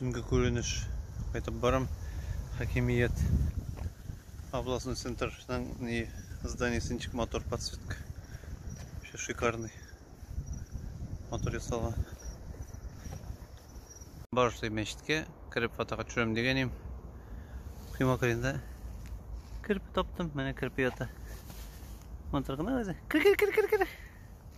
Төнге күренеш кайтып барам. Хакимият областной центрның ни зданиесе ничек матур подсветка. Вообще шикарный. Матур ясалган. Барышлый мәчеткә кереп фотога төшерәм дигән идем. Кыйма кырында керпе таптым. Менә керпе ята. Матур гына үзе. Кер кер кер кер кер.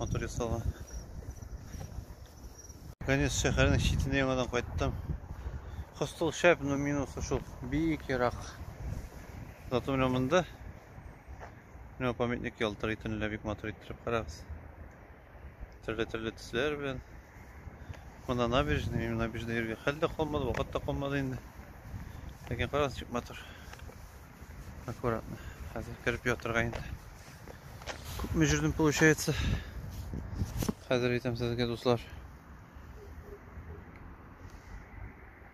мотор ясалган конец шәһәрнең читенә яңадан кайттым костыл шәп но минусы шул бик ерак зато менә монда менә памятник ялтырый төнлә бик матур иттереп карагыз төрле төрле төсләр белән мына набережный набережный йөрергә хәл дә калмады вакыт та калмады инде ләкин карагыз ничек матур Аккуратно. Хәзер кереп ятырга инде. Күпме жүрдем получается. Хәзер әйтәм сезгә дуслар.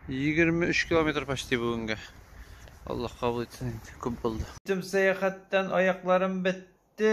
23 километр почти бүгенге. Аллах кабул итсен инде. Күп булды. Тем сәяхәттән аякларым бетте.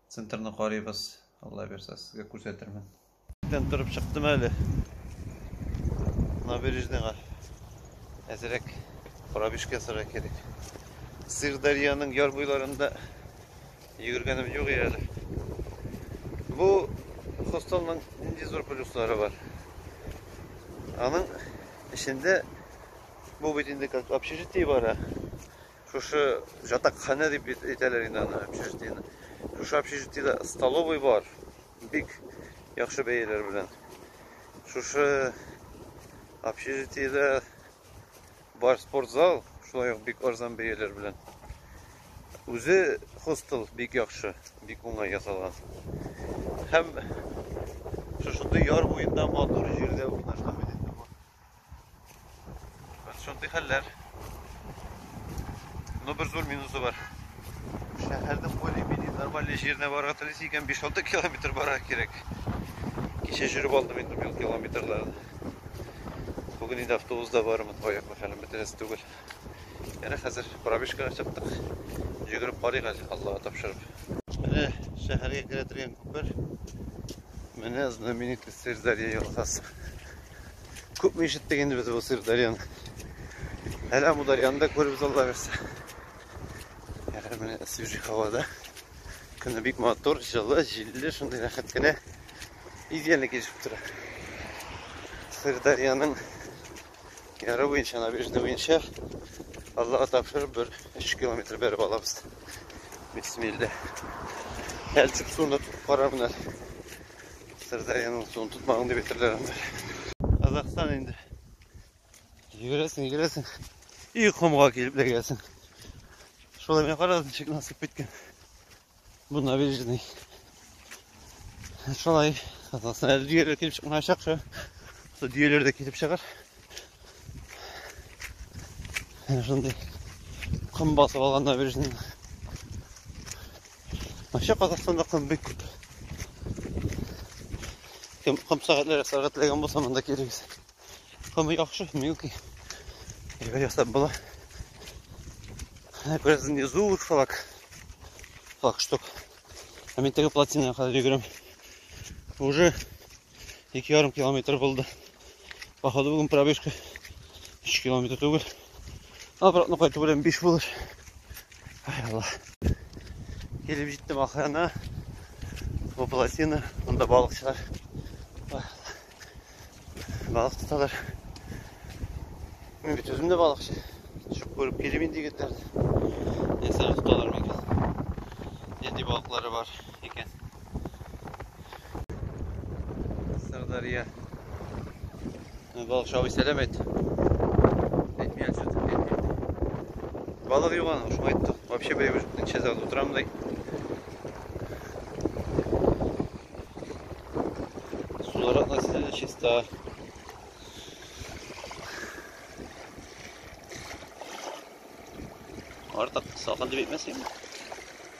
Центрны карыйбыз, Алла бирсә, сезгә күрсәтермен. Тен торып чыктым әле. Набережныйга әзрәк пробежка ясарга кирәк. Сырдарьяның яр буйларында йөгергәнем юк әле. Бу хостелның нинди зур плюслары бар. Аның эчендә бу бит инде как общежитие бара. Шушы жатакханә дип әйтәләр инде аны общежитиене. Шушы общежитиедә столовый бар. Бик яхшы бәяләр белән. Шушы общежитиедә бар спортзал, шулай ук бик арзан бәяләр белән. Үзе хостел бик яхшы, бик уңай ясалган. Һәм шушындый яр буенда матур җирдә урнашкан. Хәзер шундый хәлләр. Но бер зур минусы бар. Шәһәрдә более-менее нормаль җиренә барырга телисә икән 5-6 километр барырга кирәк. Кичә жүреп алдым инде мил километрларын. Бүген инде автобуста бармын, аяк хәлем бетерәсе түгел. Әнә хәзер пробежкага чыктык. Йөгереп карыйк әле, Аллага тапшырып. Менә шәһәргә керә торган күпер. Менә знаменитый Сырдарья елгасы. Күпме ишеттек инде без бу Сырдарьяны. Әле Амударьяны да күреп залларыз. Әле менә свежий һавада. Көне бик матур, җылы, җилле, шундый рәхәт кенә идеально килешеп тора. Сырдарьяның яры буенча, набережный буенча Аллаһ тапшыр бер 3 километр бәреп алабыз. Бисмилла. Әлсек суны карар менә. Сырдарьяның суын тотмагың дип әйтерләр анда. Казахстан инде. Йөгерәсең, йөгерәсең. И комга килеп ләгәсең. Шулай менә карагыз ничек насып киткән. Бу набережный. Шулай Казахстан әле дөяләр килеп чыкмаячак шо. Шо дөяләр дә килеп чыгар. Шундый ком басып алган набережный. Вообще Казахстанда ком бик күп. Кем ком сәгатьләр ясарга теләгән булса, монда килегез. Ком яхшы, милки. Әйбер ясап була. Әнә күрәсез, не зур флаг. Флаг штук. Ә мин теге плотина кадәр йөгерәм. Уже Ике ярым километр булды. Походу бүген пробежка 3 километр түгел. Обратно кайту белән 5 булыр. Ай Алла. Килеп җиттем ахырына. Бу плотина, монда балыкчылар. Балык тоталар. Мин бит үзем дә балыкчы. Төшеп күреп килим инде егетләрне. Нәрсәләр тоталар микән? Нинди балыклары бар икән? Сырдарья. Балыкчы абый сәлам әйт. Әйтмей отсюда, әйтмей. Балык юк аның, шуңа әйтте. Вообще бәйбі ничә сәгать утырам дай. Сулар относительно чиста. Артык салкын дип әйтмәсәң.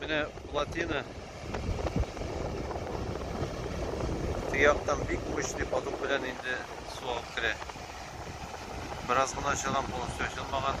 Менә плотина Тыяктан бик мощный поток белән инде су алып керә. Бераз гына чыгам полностью ачылмаган.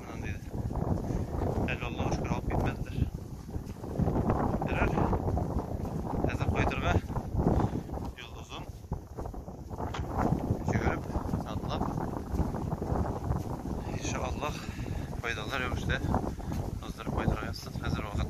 Аны диде. Әле Аллаһу шөкер алып китмәделәр. Берәр әзер кайтырга юл озын. Жүгереп, атлап. Иншаллах, файдалы рәвештә уздырып кайтырга язсын. Хәзер вакыт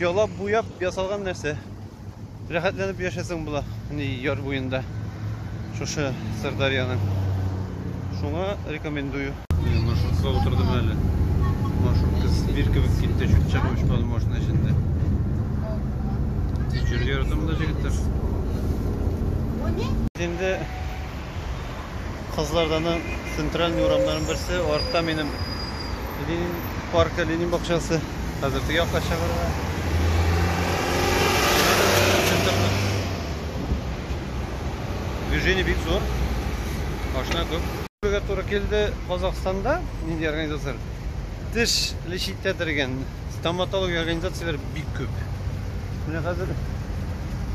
Ялап буяп ясалган нәрсә. Рәхәтләнеп яшәсең була. Ни яр буенда. Шушы Сырдарьяның. Шуңа рекомендую. Менә маршрутка утырдым әле. Маршрутка змир кебек китте, чүт чыгып очмады машина эчендә. Җиргә яратам да җегетләр. Инде Кызларданың центральный урамнарын берсе, артта минем Ленин паркы, Ленин бакчасы. Хәзер теге якка чыгарга. Движение бик зур. Машина күп. Бөгә туры килде Казахстанда нинди организация? Теш лечитә дигән стоматология организацияләре бик күп. Менә хәзер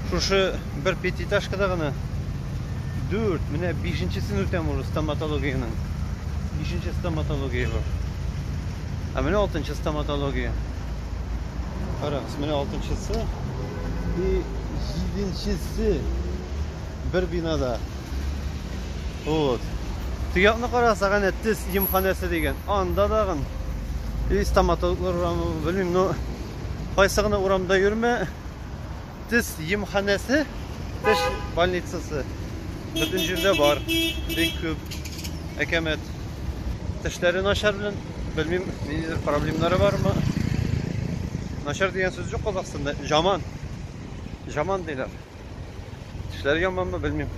шушы бер пятиэтажкада гына дүрт, менә бишенчесен үтәм уже стоматологиянең. Бишенче стоматология бу. Ә менә алтынчы стоматология. Карагыз, менә алтынчысы и җиденчесе бер бинада. Вот. Тыякны карасак, әнә тез емханәсе дигән. Анда дагын и стоматологлар урамы, белмим, но кайсы гына урамда йөрмә, Тез емханәсе, теш больницасы бөтен җирдә бар, бик күп, әкәмәт. Тешләре начар белән, белмим, ниндидер проблемнары бармы. Начар дигән сүз юк Казахстанда, жаман. Жаман диләр. Тешләре яманмы, белмим.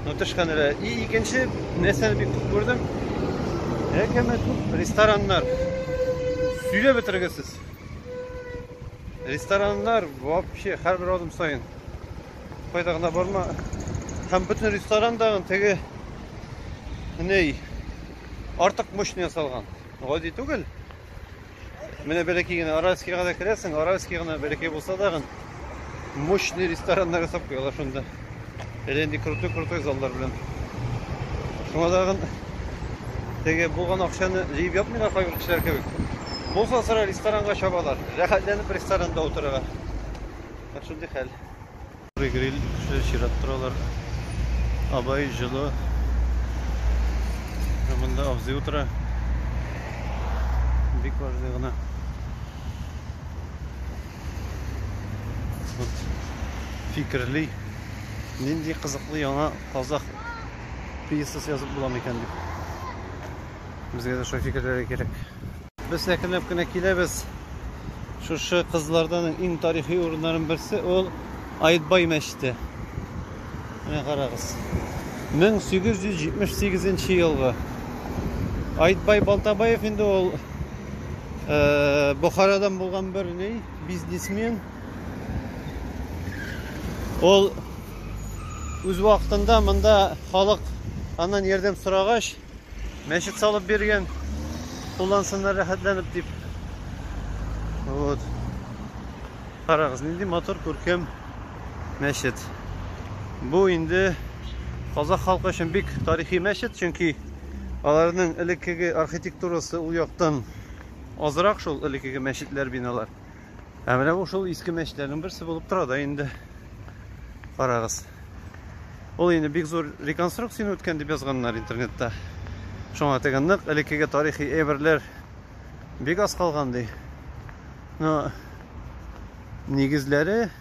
Но тешханәләр. И икенче нәрсәне бик күп күрдем. Әкәмәт күп рестораннар. Сөйләп бетергесез. Рестораннар вообще һәрбер адым саен кайда гына барма һәм бөтен ресторандагы теге ней артык мощный ясалган. Гади түгел. Менә бәләкәй генә Аральскийга да керәсең, Аральский гына бәләкәй булса да гын мощный рестораннар ясап куялар шунда. Әле инде крутой-крутой заллар белән. Шуңа тагын теге булган акчаны җыеп ятмыйлар кайбер кешеләр кебек. Булса сыра ресторанга чабалар. Рәхәтләнеп ресторанда утырырга. Бак шундый хәл. Гриль кешеләр чират торалар. Абай җылы. Монда абзый утыра. Бик важный гына. Вот фикерли. Нинди кызыклы яңа казах пьесасы язып була микән дип. Безгә дә шул фикерләр кирәк. Без әкренләп кенә киләбез. Шушы кызлардан иң тарихи урыннарның берсе ул Аетбай мәчете. Менә карагыз. 1878 елгы. Аетбай Балтабаев инде ул э, Бохарадан булган бер ни, бизнесмен. Ул үз вакытында монда халык аннан ярдәм сорагач, Мәчет салып биргән. Куллансыннар рәхәтләнеп дип. Вот. Карагыз, нинди мотор күркәм мәчет. Бу инде казах халкы өчен бик тарихи мәчет, чөнки аларның элеккеге архитектурасы ул яктан азрак шул элеккеге мәчетләр, биналар. Ә менә бу шул иске мәчетләрнең берсе булып тора да инде. Карагыз. Ул инде бик зур реконструкцияне үткән дип язганнар интернетта. Шуңа теге нык элеккеге тарихи әйберләр бик аз калган ди. Но нигезләре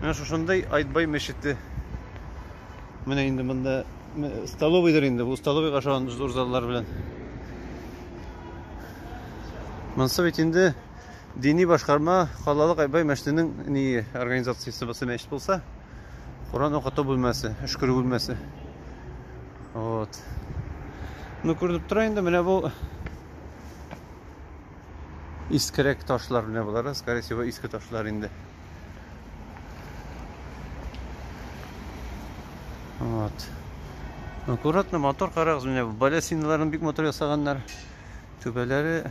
Менә шушындый Айтбай мәчете. Менә инде монда столовыйдыр инде. Бу столовыйга ошаган зур заллар белән. Монсы бит инде дини башкарма халалык Айтбай мәчетенең ни организациясе булса мәчет булса, Коран укыту бүлмәсе, өшкерү бүлмәсе. Вот. Ну күренеп тора инде менә бу Искерәк ташлар менә болар, скорее всего, иске ташлар инде. Вот. Аккуратно мотор карагыз, менә балясиналарын бик мотор ясаганнар. Түбәләре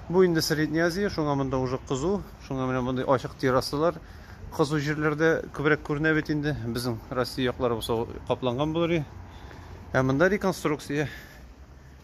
Бу инде Средняя Азия, шуңа монда уже кызу, шуңа менә мондый ачык террасалар. Кызу җирләрдә күбрәк күренә бит инде. Безнең Россия яклары булса капланган булыр. Ә монда реконструкция.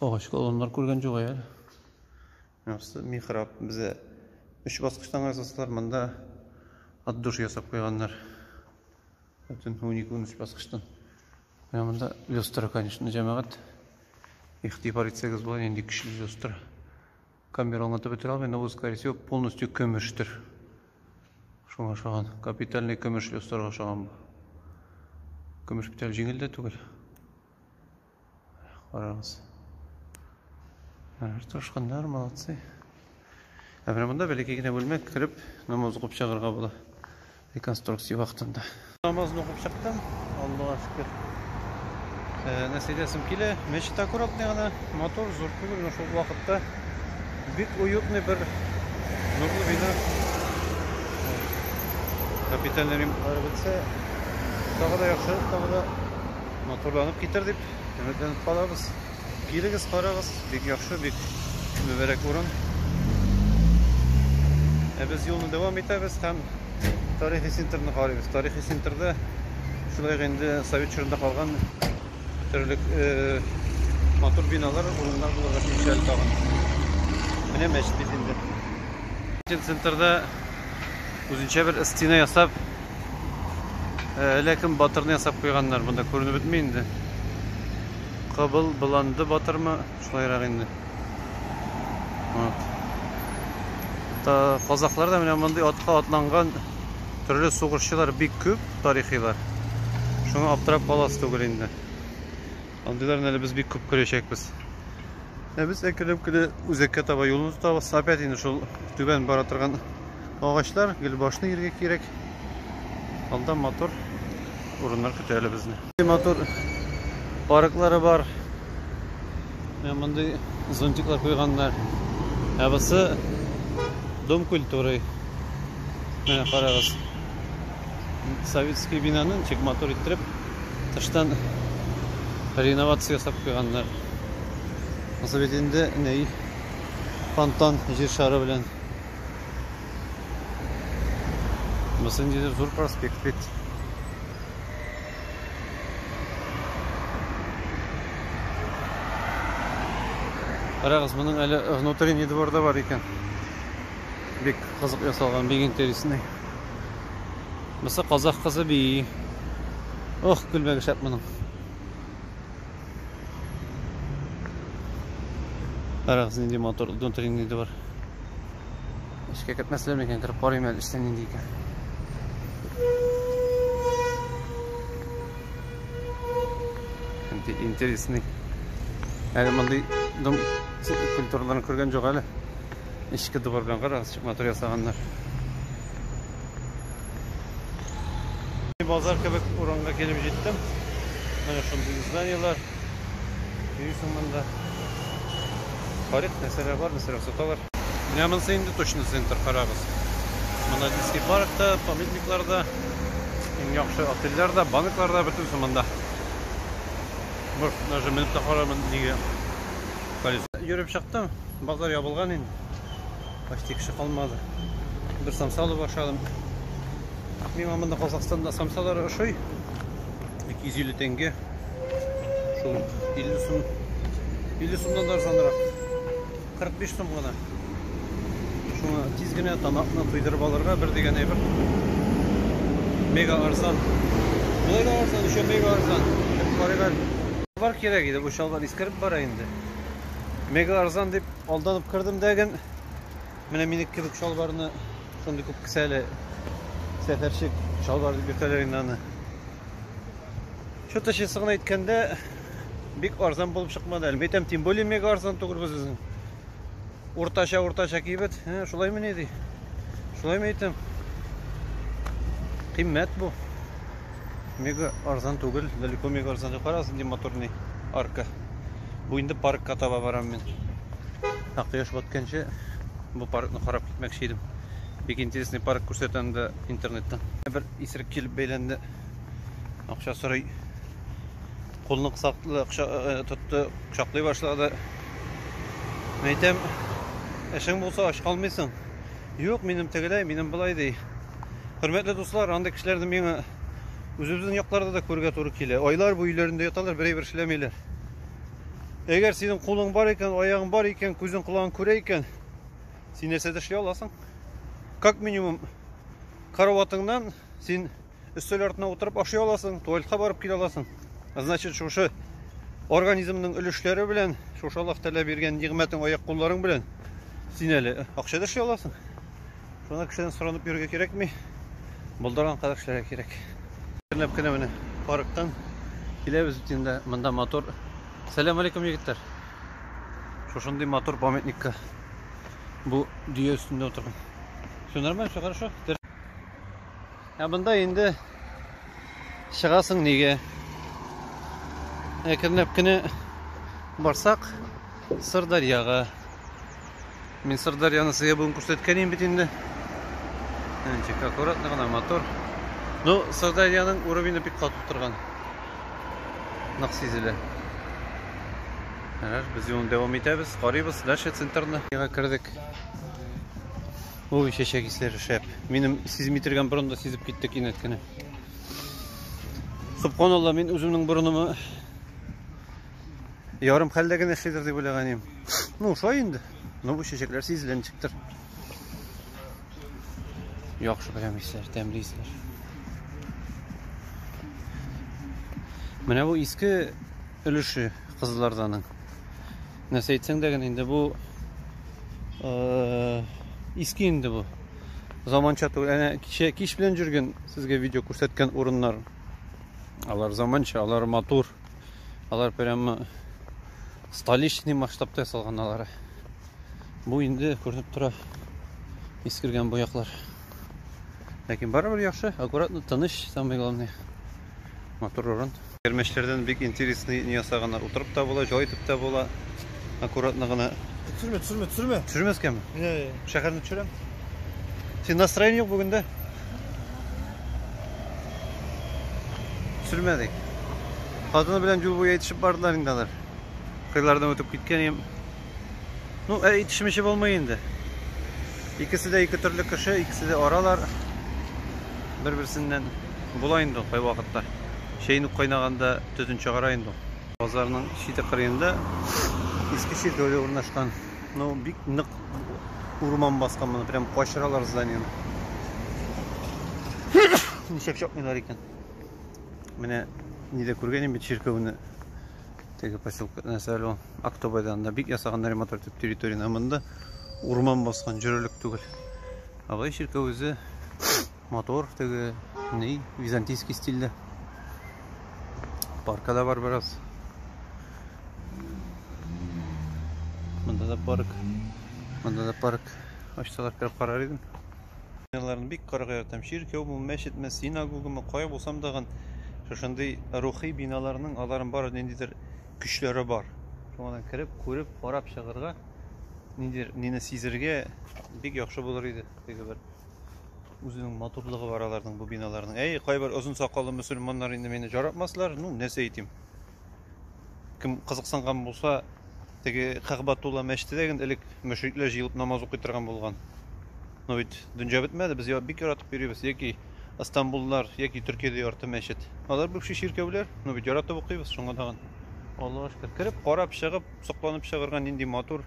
Агач колоннар күргән юк әле. Нәрсә михраб безә. Өч баскычтан ясасалар, монда от душ ясап куйганнар. Бөтен уник үн өч баскычтан. Менә монда люстра, конечно, җәмәгать. Ихтибар итсәгез була, нинди көчле люстра. Камера аңлатып бетерә алмый, но, скорее всего, полностью көмештер. Шуңа ошаган. Капитальный көмеш люстрага ошаган бу. Көмеш бит әле җиңел дә түгел. Карагыз. Алар тырышканнар, молодцы. Ә менә монда бәләкәй генә бүлмә кереп, намаз укып чыгарга була. Реконструкция вакытында. Намазны укып чыктым. Аллага шөкер. Э, Нәсидәсем килә. Мәчет аккуратный гына, мотор зур түгел, но шул вакытта бик уютный бер нурлы бина. Капитальный ремонтлар бетсә, тагы да яхшырак, тагы да Матурланып китер дип өметләнеп калабыз. Килегез, карагыз, бик яхшы, бик мөбәрәк урын. Ә без юлны дәвам итәбез һәм тарихи центрны карыйбыз. Тарихи центрда шулай инде совет чорында калган төрлек э, матур биналар, урыннар булырга тиеш әле тагын. Менә мәчет бит инде. Центрда үзенчә бер стена ясап, Э, әллә кем батырны ясап куйганнар, монда күренеп бетми инде. Кабыл быланды батырмы, шулайрак инде. Вот. Та казаклар да менә мондый атка атланган төрле сугышчылар бик күп тарихилар. Шуңа аптырап каласы түгел инде. Андыйларны әле без бик күп күрәчәкбез. Ә без әкренләп кенә үзәккә таба юлны тотабыз. Опять инде шул түбән бара торган Агачлар, гөлбашны иргә кирәк. Алда матур урыннар көтә әле безне. Матур парклары бар. Мондый зонтиклар куйганнар. Ә бусы Дом культуры. Менә карагыз. Советский бинаны ничек матур иттереп тыштан реновация ясап куйганнар. Узып инде ней фонтан җир шары белән Монысы ниндидер зур проспект бит. Карагыз, моның әле внутренний двор да бар икән. Бик кызык ясалган, бик интересный. Монысы казах кызы би. Ох, күлмәге шәп моның. Карагыз нинди мотор, внутренний нинди бар. Эшкә кертмәсләр микән, кереп карыйм әле эштә нинди икән. Нинди интересный. Әле мондый дом культураларын күргән юк әле. Эшкә дубар белән карагыз, мотор ясаганнар. Базар кебек урынга килеп җиттем. Менә шундый зданиелар. Йөрисең монда. Карик нәрсәләр бар, нәрсәләр саталар. Менә монысы инде точно центр карагыз. Монда детский паркта, памятникларда, иң яхшы отельләрдә, банкларда бөтенесе монда. Бер даже менеп тә карамадым, нигә колесо. Йөреп чыктым, базар ябылган инде. Почти кеше калмады. Бер самса алып ашадым. Миңа монда Казахстанда самсалар ошый. 250 тенге. Шул 50 сум. 50 сумдан да арзанрак. 45 сум гына. Шуңа тиз генә тамакны туйдырып алырга бер дигән әйбер. Мега арзан. Болай да арзан, еще мега арзан. Бар кирәк иде, бу чалбар искереп бара инде. Мега арзан дип Алданып кердем дә ген. Менә минек кебек чалбарны шундый күп кесә әле. Сәфәрчек чалбар дип йөртәләр инде аны. Что-то чесы гына әйткәндә бик арзан булып чыкмады. Әле әйтәм, тем более мега арзан түгел без үзен. Уртача, уртача кибет. Ә, шулаймы ни ди? Шулаймы әйтәм? Кыйммәт бу. Мега арзан түгел, далеко мега арзан түгел. Карагыз, нинди моторный арка. Бу инде паркка таба барам мин. Ә кояш батканчы бу паркны карап китмәкче идем. Бик интересный парк күрсәтә анда интернеттан. Бер исерек килеп бәйләнде. Акча сорый. Кулны кысаклы акча э, э, тотты, кочаклый башлады. Әйтәм, эшең булса ач калмыйсың. Юк, минем тегеләй, минем былай ди. Хөрмәтле дуслар, андый кешеләрне миңа үзебезнең якларда да күрергә туры килә. Айлар буе өйләрендә яталар, берәй бер эшләмиләр. Әгәр синең кулың бар икән, аягың бар икән, күзең колагың күрә икән, син нәрсә эшли аласың? Как минимум караватыңнан син өстәл артына утырып ашый аласың, туалетка барып килә аласың. Значит, шушы организмның өлешләре белән, шушы Аллаһ Тәгалә биргән нигъмәтең аяк кулларың белән син әле акча да эшли аласың. Шуны кешедән сорынып йөрергә кирәкми. Булдырган кадәр эшләргә кирәк. Көнләп кенә менә парктан киләбез бит инде. Монда мотор. Сәлам алейкум, егетләр. Шушындый мотор памятникка. Бу дөя өстендә утырган. Все нормально, все хорошо. Ә монда инде чыгасың нигә? Әкренләп кенә барсак, Сырдарьяга Мин Сырдарьяны сезгә бүген күрсәткән идем бит инде. Тик аккуратно гына мотор. Ну, Сырдарьяның уровене бик катып торган. Нык сизелә. Ярар, без юлны дәвам итәбез, карыйбыз дальше центрны. Яга кердек. Ой, чәчәк исләре шәп. Минем сизми торган борын да сизеп китте кинәт кенә. Субханалла, мин үземнең борынымы Ярым хәлдә генә эшлидер дип уйлаган идем. Ну, шулай инде. Ну, бу чәчәкләр сизелә ничектер. Яхшы прям исләр, тәмле исләр. Менә бу иске өлеше кызыларданың. Нәрсә әйтсәң дә генә инде бу э, иске инде бу. Заманча түгел. Әнә кичә кич белән жүргән сезгә видео күрсәткән урыннар. Алар заманча, алар матур. Алар прямо столичный масштабта ясалган алары. Бу инде күренеп тора искергән буяклар. Ләкин барыбер яхшы, аккуратно, тыныч, самое главное. Матур урын. Кермәчләрдән бик интересный не ясаганнар. Утырып та була, җай итеп тә була. Аккуратно гына. Төшермә, төшермә, төшермә. Төшермәскәме? Йә, йә. Шәһәрне төшерәм. Син настроение юк бүгендә. Төшермәдек. Хатыны белән юл буе әйтешеп бардылар инде алар. Кыйлардан үтеп киткән идем. Ну, ә итешмичә булмый инде. Икесе дә ике төрле кеше, икесе дә аралар. Бер-берсеннән була инде кай вакытта. Чәйнүк кайнаганда төтен чыгара инде. Базарның чите кырыенда иске чиркәүдә урнашкан. Ну, бик нык урман баскан моны, прям качыралар зданиены. Ничек чакмыйлар икән? Менә нидә күргән инде чиркәүне. Теге поселка нәрсә әле ул? Актобайда анда бик ясаган ремонт итеп территорияне. Монда урман баскан, җөрелек түгел. Абай чиркәү үзе Мотор теге ни, византийский стильдә. Парка да бар бераз. Монда да парк. Монда да парк. Ачсалар кереп карар идем. Ялларын бик карга яратам. Чиркәү бу, мәчетме, синагогамы, кая булсам да гын, шушындый рухи биналарның аларын бар ниндидер көчләре бар. Шуңадан кереп, күреп, карап чыгарга, ниндидер нине сизергә бик яхшы булыр иде. Теге бер Үзенең матурлыгы бар аларның бу биналарның. Әй, кайбер озын сакаллы мөселманнар инде мине жаратмаслар. Ну, нәрсә әйтим? Кем кызыксынган булса, теге Кагбатулла мәчете дә генә элек мөшрикләр җыелып намаз укый торган булган. Но бит дөнья бетмәде, без бик яратып йөрибез. Яки Ыстамбуллар, яки Төркиядә ярты мәчет. Алар бывший чиркәүләр, но бит яратып укыйбыз шуңа тагын. Аллага шөкер. Кереп, карап, чыгып, сокланып чыгарга нинди матур.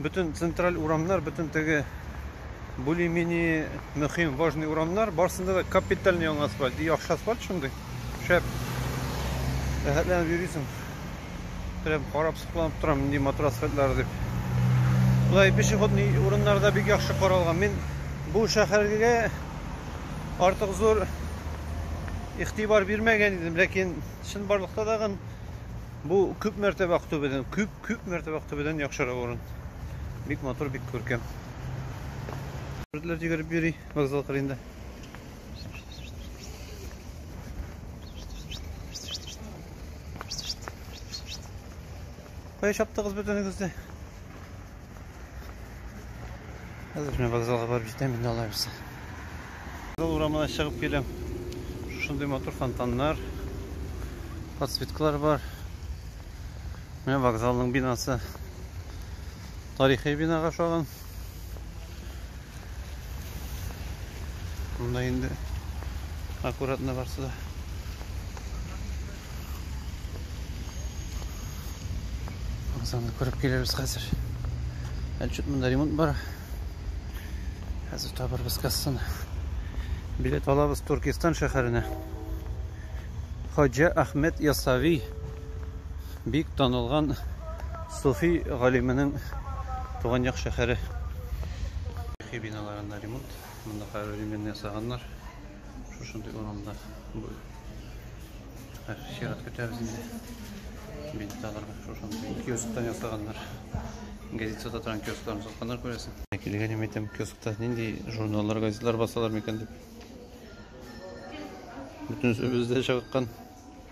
бөтен централь урамнар, бөтен теге булимини мөһим важный урамнар, барсында да капитальный яңа асфальт. Яхшы асфальт шундый. Шәп. Рәхәтләнеп йөрисең. Прям карап сокланып торам, нинди матур асфальтлар дип. Болай пешеходный урыннарда бик яхшы каралган. Мин бу шәһәргә артык зур игътибар бирмәгән идем, ләкин чынбарлыкта тагын бу күп мәртәбә Актүбәдән күп Күп мәртәбә актүбәдән яхшырак урын. Бик матур, бик күркәм. Бүртләр йөгереп йөри вокзал кырыенда. Кая чаптыгыз бөтенегез дә? Хәзер мин вокзалга барып җитәм инде алай булса. Вокзал урамына чыгып киләм. Шушындый матур фонтаннар, подсветкалар бар. Менә вокзалның бинасы. Тарихи бинага ошаган. Монда инде аккуратно барсы да. Вокзалны күреп килербез хәзер. Әле чут монда ремонт бар. Хәзер табырбыз кассаны. Билет алабыз Туркестан шәһәренә. Хаҗа Ахмед Ясави бик танылган суфи галименең туган як шәһәре. Тарихи биналарында ремонт, монда хәзер ремонт ясаганнар. Шушындый урамда бу. Хәзер чират көтәбез инде. Бинталарга шушындый киосктан ясаганнар. Газет сататран киоскларын сатканнар күрәсең. Килгән ем әйтәм, киоскта нинди журналлар, газетлар басалар микән дип. Бөтенесе бездә чагыккан.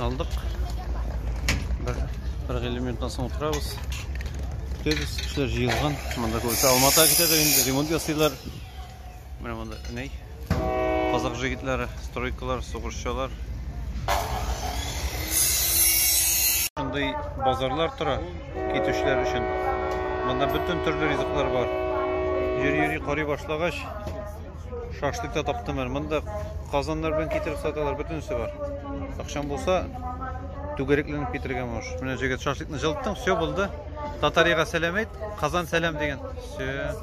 Алдык. Бер, бер гелем минуттан соң утырабыз. Көтәбез, кешеләр җыелган. Монда күбесе Алматага китәдер инде, ремонт ясыйлар. Менә монда ней. Казак җегетләре, стройкалар, сугышчылар. Шундый базарлар тора китүчеләр өчен. Монда бөтен төрле ризыклар бар. Йөри-йөри карый башлагач, Шашлык та таптым әле. Монда казаннар белән китереп саталар, бөтенесе бар. Акчам булса, түгәрәкләнеп китерергә мөш. Менә җегет шашлыкны җылыттың, все булды. Татарияга сәлам әйт, Казан сәлам дигән. Все.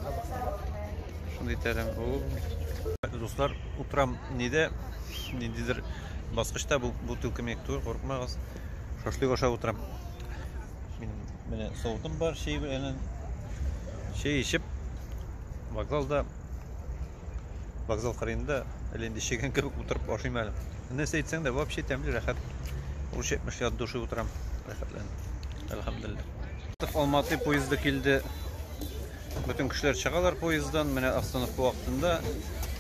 Шундый тәләм. Дуслар, утрам ниде? Ниндидер баскычта бу бутылка мек тур, курыкмагыз. Шашлык аша утрам. Мин менә савытым бар, чәй белән. Чәй ичеп, вокзалда Вокзал кырыенда әле инде чегән кебек утырып ашыйм әле. Нәрсә әйтсәң дә, вообще тәмле, рәхәт. Урыш әйтмешли от души утырам. Рәхәтләнеп. Әлхәмдулилла. Алматы поезды килде. Бөтен кешеләр чыгалар поезддан. Менә остановка вакытында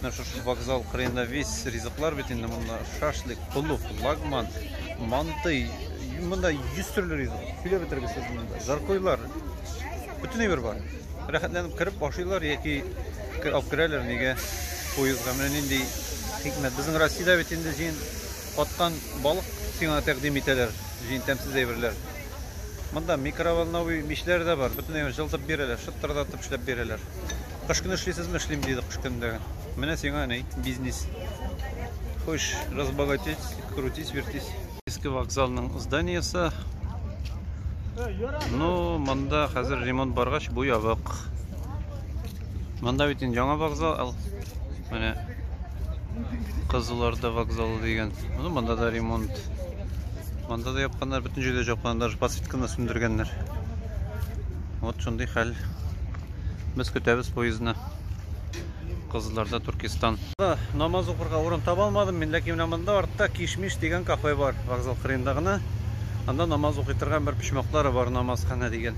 менә шушы вокзал кырыенда весь ризыклар бит инде монда. Шашлык, пылув, лагман, мантый. Монда 100 төрле ризык. Сөйләп бетергесез монда. Жаркойлар. Бөтен әйбер бар. Рәхәтләнеп кереп ашыйлар яки алып керәләр нигә поездга. Менә нинди хикмәт. Безнең Россиядә бит инде җин каткан балык сиңа тәкъдим итәләр. Җин тәмсез әйберләр. Монда микроволновый мичләр дә бар. Бөтенләй җылытып бирәләр, шыттырдатып эшләп бирәләр. Кыш көне эшлисезме? Эшлим, диде кыш көнендә. Менә сиңа ни, бизнес. Хочешь разбогатеть, крутись, вертись. Иске вокзалның зданиесе. Ну, монда хәзер ремонт баргач, бу ябык. Монда бит инде яңа вокзал. Менә Кызылорда вокзалы дигән. Ну, монда да ремонт. Монда да япканнар, бөтен җирдә җапканнар, даже подсветканы сүндергәннәр. Вот шундый хәл. Без көтәбез поездны. Кызылорда, Туркестан. Намаз укырга урын таба алмадым мин, ләкин менә монда артта Кишмиш дигән кафе бар, вокзал кырыенда гына. Анда намаз укый торган бер почмаклары бар, намазхана дигән.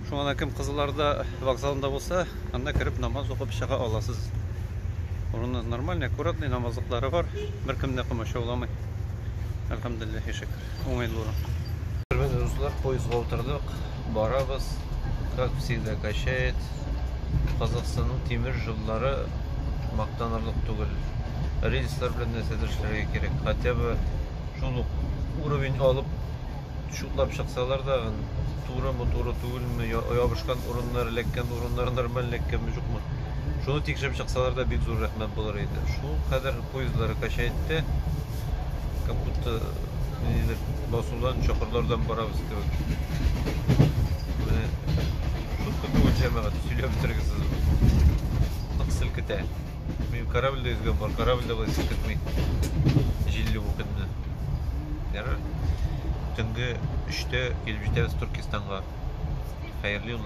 Шуңа да кем Кызылорда вокзалында булса, анда кереп намаз укып чыга аласыз. Урыны нормальный, аккуратный, намазлыклары бар, беркем дә комачауламый. Әлхәмдулиллаһи шөкер, уңайлы урын. Хөрмәтле дуслар, поездга утырдык. Барабыз, как всегда качает. Казахстанның тимер жоллары мактанырлык түгел. Рельслар белән нәрсәдер эшләргә кирәк. Хотя бы шул ук уровень алып шутлап чыксалар да, турымы, туры түгелме, ябышкан урыннар, эләккән урыннар нормаль эләккәнме, юкмы. Шуны тикшереп чыксалар да бик зур рәхмәт булыр иде. Шул кадәр поездлары качайтты. Как будто нидер басудан, чокырлардан барабыз кебек. Менә шутка түгел җәмәгать, сөйләп бетерегез сез. Нык селкетә. Мин корабльдә йөзгән бар, корабльдә болай селкетми. Җилле бу көнне. Ярар. Төнге 3-тә килеп җитәбез Туркестанга. Хәерле юллар.